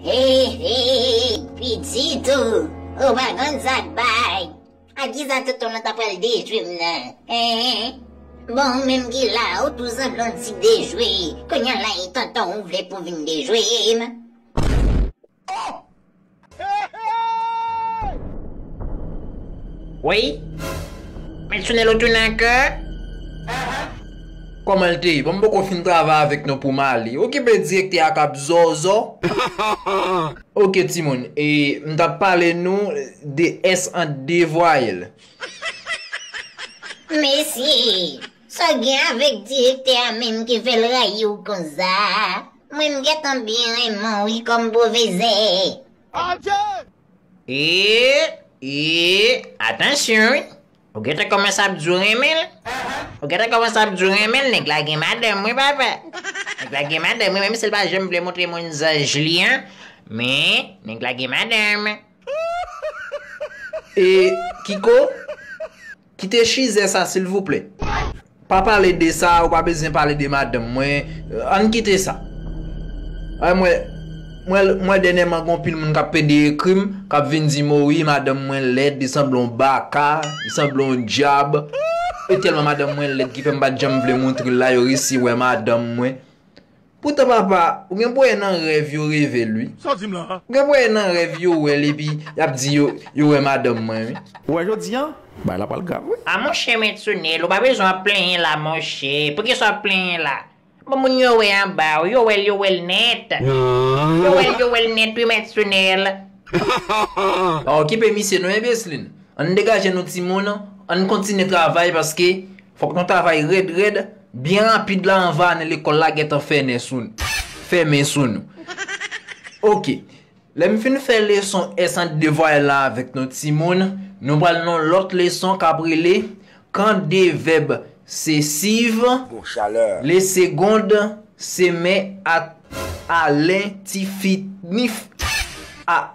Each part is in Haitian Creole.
Hey hey pitit ou ou pa konn sak bay ak kisa tout ton nan ta pral dejwe m nan hein bon ou menm ki la ou tou sanble on ti dejwe kounya la e tonton ou vle pou vin dejwe m oh. Woy! Mèt Sunelo tounen ankò? Kòman l te ye? Bon m poko fin travay avèk non pou m ale. Okipe direktè a k ap zòzò. Ok timoun, e m t ap pale nou de s an de vwayèl. Mesye! Sa w gen avèk direktè a menm ki fè l rayi w konsa? Mwen m gentan byen renmen w wi Combo vezee. Adjee! Eee eee atansyon wi ou gentan kòmanse ap di w renmen l ou gentan kòmanse ap di w renmen l nèg la gen madanm wi papa nèg la gen madanm wi menm si l pa janm vle montre moun zaj li an men nèg la gen madanm. Eee kiko? Kite chizè sa silvouplè. Pa pale de sa ou pa bezyen pale de madanm mwen ann kite sa an mwen mwen dènyèman gon pil moun kap pede ekrim kap vin di mo wi madanm mwen lèd li sanble yon baka li sanble yon dyab e tèlman madanm mwen lèd ki fèm pat janm vle moutrel la yo resi wè madanm mwen Poutan papa ou gen pou e nan rèv yo revel wi. Sa w di m lan an? Ou gen pou e nan rèv yo wèl epi yap di yo yo wè madanm mwen wi. Ou wè jodi an bagay la pral grav wi. A monchè Maître Neel ou pa bezwen ap plenyen la monchè, poukisa wap plenyen la? Bon moun yo wè anba w, yo wèl yo wèl nèt. Yo wèl yo wèl nèt wi Maître Neel. Pa okipe misye non enbeslin. Ann degaje nou timoun, ann kontinye travay paske Fok nou travay red red, byen rapid la anva ane lekol la gentan fène sou nou. Fèmen sou nou. Ok. Lèm fin fè leson S ant devwa L la avèk nou timoun, nou pral nan lot leson kap rele Kan de vèb se siv, le segond se men ak alen ti fi nif a.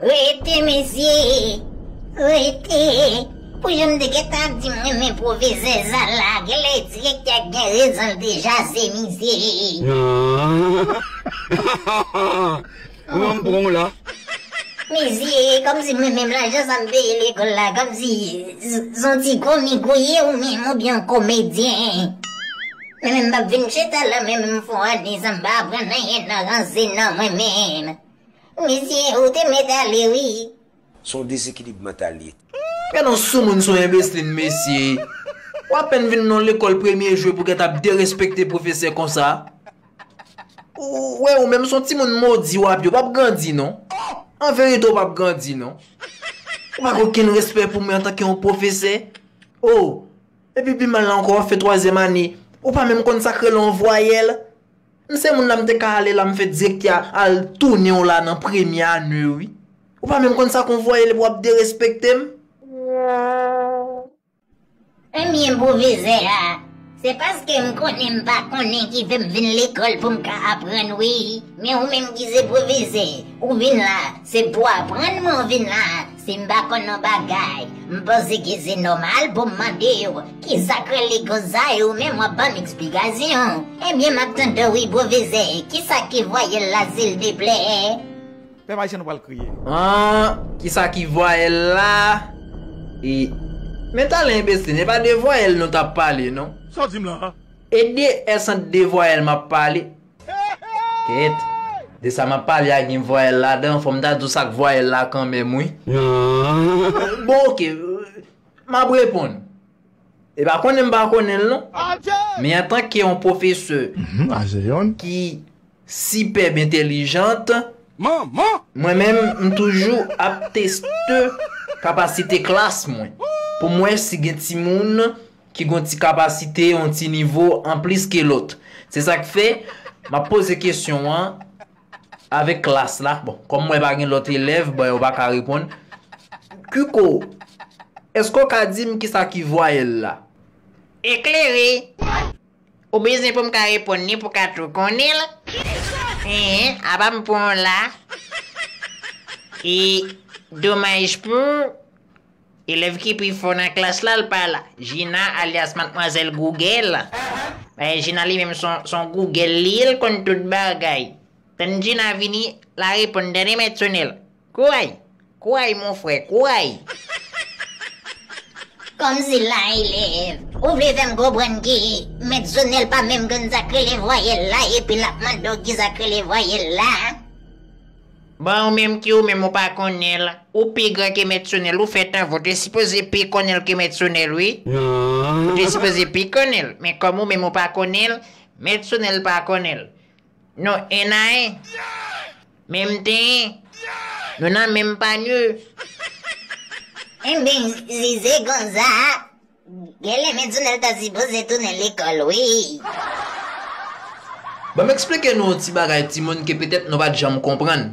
Rete mesye, rete, pou jan m te gentan ap di m renmen pwovizè Zala, genlè direktè a gen rezon l te jaze mizè. Nan nan, m pran w la. Mizè, kòmsi mwen menm lajan sa m peye lekòl la kòmsi s on ti komik ou ye ou menm oubyen yon komedyen. Mwen menm m pa p vin chita la menm m fon ane san m pa aprann anyen nan ranse nan mwen menm. Misye ou te met ale wi. Son desekilib mantal li ye. Humm gen on soumoun son enbeslin mesye ou apèn vin non lekòl premye jou epou gèt ap derespekte pwofesè konsa ou wè ou menm son timoun modi wap ye ou pap grandi non anverite ou pap grandi non ou pa gen okenn respè pou mwen antanke yon pwofesè oh epi pi mal la ankò wap fè twazyèm ane ou pa menm konn sak rele yon vwayèl. M se moun la m te ka ale la m fè direktè a al tounen w la nan premye ane w wi. Ou pa menm konn sa kon voye l wap derespekte m. Premye pwofesè a, Se paske m konnen m pa konnen ki fè m vin lekòl pou m ka aprann wi. Men ou menm ki se pwofesè, ou vin la se pou aprann men w vin la Si m pa konn yon bagay, m poze kezi nòmal pou m mande w, ki sa k rele konsa e ou menm w ap ban m eksplikasyon. Ebyen m ap tande w wi pwofesè, ki sa ki vwayèl la silteplè? Pèp ayisyen nou pral kriye. An, ki sa ki vwayèl la? E, men talen enbesil, e pa de vwayèl nou t ap pale non. Sa w di m la a? E de, e san de vwayèl m ap pale? Ket! De sa map pale a gen vwayèl ladan, fòm ta di w sak vwayèl la kanmenm wi. Nan! Bon ok, map reponn. E pa konnen m pa konnen l non. Men antanke yon pwofesè. Ajeyon. Ki sipèb entelijant. Manman! Mwen menm m toujou ap teste kapasite klas mwen. Pou m wè si gen timoun. ki gon ti kapasite, yon ti nivo anplis ke lòt. Se sa k fè, m ap poze kesyon an avèk klas la. Bon, kòm m wè pa gen lòt elèv, bon yo pa ka reponn. Kiko, èske w ka di m ki sa ki vwayèl la? Eklere, Ou bezwen pou m ka reponn ni pou w ka tou konnen l? Enhen, apa m pran w la? E, domaj pou, Elèv ki pi fò nan klas la l pa la. Jina alyas matmwazèl Gougèl. Dayè Jina li menm s on Gougèl li ye l konn tout bagay. Tann Jina vini l a reponn tande mèt Sonèl. Kouray! Kouray mon frè, kouray! Kòmsi la elèv, ou vle fè m konprann ke mèt Sonèl pa menm konn sa k rele vwayèl la epi l ap mande w kisa k rele vwayèl la? Bon ou menm ki ou menm ou pa konnenl ou pi gran ke mèt sonèl ou fè tanven ou te sipoze pi konnenl ke mèt sonèl wi ou te sipoze pi konnenl men kòm ou menm ou pa konnenl mèt sonèl pa konnenl nou 1 a 1 menm tenyen nou nan menm panye. Enben, Zizé Gonzaa! Genlè Medzonel ta sipoze tounen lekòl wi. Banm eksplike nou yon ti bagay timoun ke petèt nou pat janm konprann.